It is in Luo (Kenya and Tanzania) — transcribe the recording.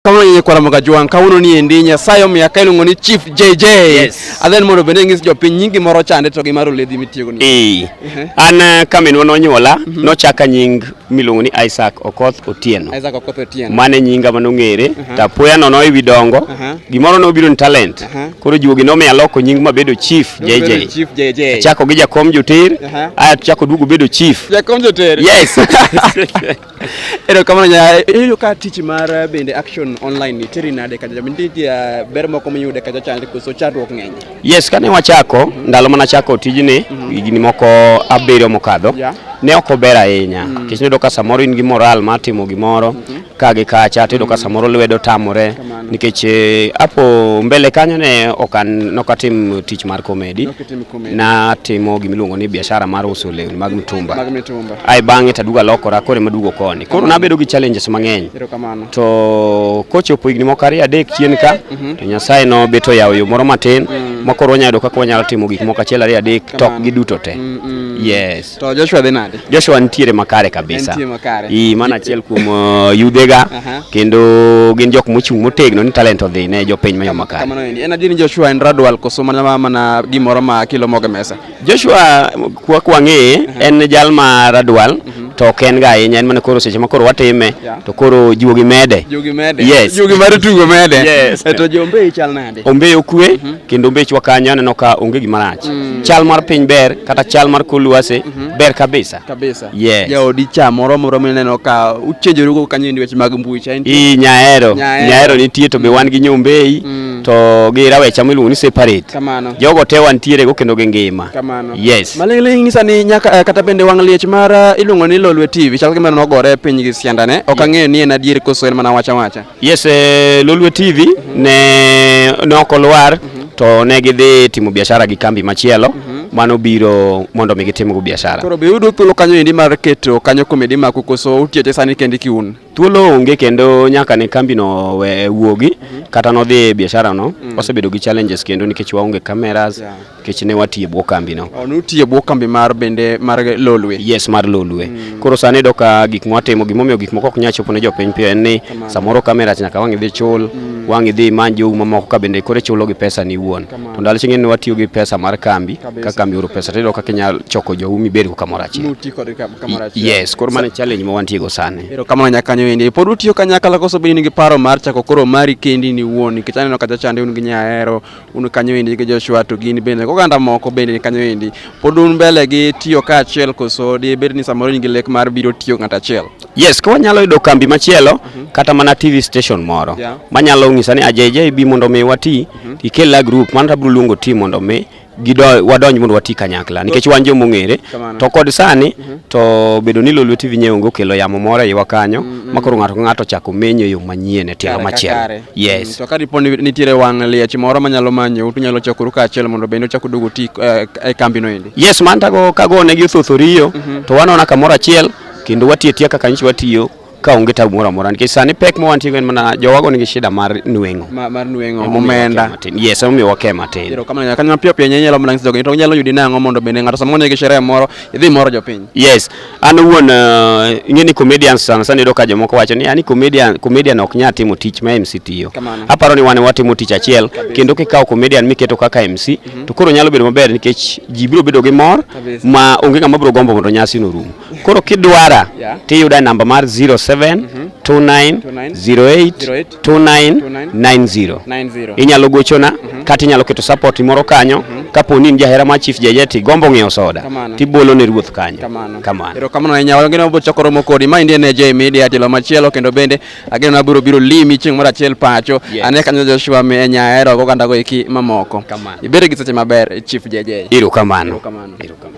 kama yenye kwa ramoga juang kawuono ni endi nyasaye omiya ka iluongo ni chief jj yes. adhen mondo bende ng'is jopiny nyingi moro chande to gi mar oledhi mitiyogo ni e. uh-huh. an eh, ka minwa nonyuola mm -hmm. nochaka nying miluongo ni isaac okoth otieno isaac okoth otieno mane nyinga manong'ere uh -huh. to apoya nono ewi dongo uh -huh. gimoro nobiro ni talent uh -huh. koro juogi nomiyo aloko nying mabedo chief jj chief jj achako gi jakom joter uh -huh. aya tuchako duogo bedo chief jakom joter yes Erokamano nya eyo ka tich mar eh, bende Action Online nitiri nade kaja bende nitie eh, ber moko miyude kaja chande koso chandruok ng'eny. Yes, kane wachako mm -hmm. ndalo mana chako tijni mm -hmm. higni moko abiriyo mokadho yeah. ne ok ober ahinya mm -hmm. kech niyudo ka samoro in gi moral mar timo gimoro mm -hmm. ka gi kacha tiyudo mm -hmm. ka samoro lwedo tamore nikech eh, apo mbele kanyo ne ok an nokatim tich mar komedi. Natimo gima iluongo ni biashara mar uso lewni mag mitumba. Mag mitumba. Ai bang'e to aduogo alokora koro ema aduogo koni. Koro nabedo gi challenges mang'eny. Erokamano. To kochopo higni moko ariyo adek chien ka mhm. to Nyasaye nobet oyawo yo moro matin mm. ma koro wanyalo yudo kaka wanyalo timo gik moko achiel ariyo adek tok giduto te. Mm, mm. Yes. To Joshua dhi nade? Joshua nitiere makare kabisa. Nitiere makare. Ii, mana achiel kuom uh, yudhega uh -huh. kendo gin jok mochung' motegno ni talent odhi ne jopiny ma yo makare. Kamano endi. En adier ni Joshua en radwal koso mana mana gimoro ma kilo moge mesa. Joshua kwa kwa ng'eye uh -huh. en jal ma radwal uh mhm. -huh to ok en ga ahinya en mana koro seche ma koro watime to koro juogi mede yes juogi mar tugo mede yes. to jombe chal nade ombe okwe mm -hmm. kendo mbechwa kanyo aneno ka onge gima rach mm. chal mar piny ber kata chal mar kor lwasi mm -hmm. ber kabisa kabisa yeah. jaodi cha moro moro mineno ka uchenjorugo kanyo ndi weche mag mbui cha i nyaero nyaero nitie to be mm. wan gi nyombei mm. to gi rawecha miluongo ni separate kamano jogo te wantiere go kendo gi ngima kamano yes malingling ngisa ni nyaka uh, kata bende wang liech mar uh, iluongo ni lolwe tv chal gima nogore piny gi siandane ok mm. ang'eyo ni en adier koso en mana wacha wacha Yes, eh, Lolwe TV ne ne ok olwar to ne gidhi timo biashara gi kambi machielo mhm. mano biro mondo mi gitimgo biashara. Koro be yudo thuolo kanyo endi mar keto kanyo komedi ma kukoso utiete sani kendi kiun? Thuolo onge kendo nyaka ne kambi no we wuogi mhm. kata nodhi e biashara no mm. wasebedo gi challenges kendo nikech waonge cameras yeah. kech ne watiye bwo kambi no. Oh, nutiye bwo kambi mar bende mar Lolwe. Yes, mar Lolwe. Mm. Koro sani do ka gik mwatimo gimomiyo gik moko ok nyal chopo ne jopiny piyo en ni samoro kamera nyaka wang' idhi chul, mm. wang' idhi imany jowu mamoko ka bende koro chulo gi pesa ni wuon. To ndalo ching'e ni watiyo gi pesa mar kambi, ka kambi oro pesa tiyudo kaka inyalo choko jowu mibed go kamoro achiel. Nuti kod kamoro achiel. Yes, koro mano challenge ma wantie go sani. Ero kamano nyaka nyo indi. Pod utiyo kanyakla koso bende in gi paro mar chako koro mari kendi ni wuon nikech aneno kata chande un gi nyahero un kanyo endi gi Joshua to gin bende oganda moko bende ni kanyo endi pod un mbele gi tiyo ka achiel koso di bed ni samoro in gi lek mar biro tiyo ng'at achiel yes ko wanyalo yudo kambi machielo mm -hmm. kata mana tv station moro yeah. manyalo ng'isa ni ajeje bi mondo mi wati mm -hmm. ikel la group mano tabiro luongo ti mondo mi wadonj mondo wati kanyakla nikech wan joma ong'ere to kod sani mm -hmm. to bedo ni Lolwe TV nyeonge okelo yamo moro e iwa kanyo mm -hmm. makoro ng'ato ka ng'ato chako menyo yo manyien e tielo machielo Yes. To ka dipo ni nitiere wang' liech moro manyalo manyo utu nyalo chokuru kaachiel mondo bende uchak uduogo ti eh, e kambi no endi. Yes, man tago kago ne gi othothoriyo mhm. to wanona kamoro achiel kendo watiyo tiya kaka nyichi watiyo ka onge tabu moro amora nikech sani pek ma wantigo en mana jowago nigi shida mar nweng'o mar nweng'o omenda yes omiyo wake matin erokamano kanyo mapiyo piyo nyalo mana nyiso jogo to nyalo yudi nang'o mondo bende ng'ato sama onegi sherehe moro idhi moro jopiny yes An owuon uh, ing'e ni comedian sana sana iyudo ka jomoko wacho ni ani comedian comedian ok nya timo tich ma MC tiyo. Aparo ni wan watimo tich achiel kendo kikawo comedian miketo kaka MC mm -hmm. to koro nyalo bedo maber nikech ji biro bedo gi mor ma onge ng'ama biro gombo mondo nyasi no rum. Koro kidwara yeah. tiyuda namba mar 07 mm -hmm. 29 08 2990 inyalo gochona mm -hmm. kata inyalo keto support moro kanyo mm -hmm. kapo ni in jahera mar Chief Jajeti gombo ng'iewo soda tibolo ne ruoth kanyo kamano kamano erokamano ahinya wang'e nabo chako romo kodi ma indie ne J Media telo machielo kendo bende ageno na biro biro limi chieng' moro achiel pacho yeah. ane kanyo Joshua mi enya hero go kanda go iki mamoko kamano ibere gi seche maber Chief Jajeti erokamano erokamano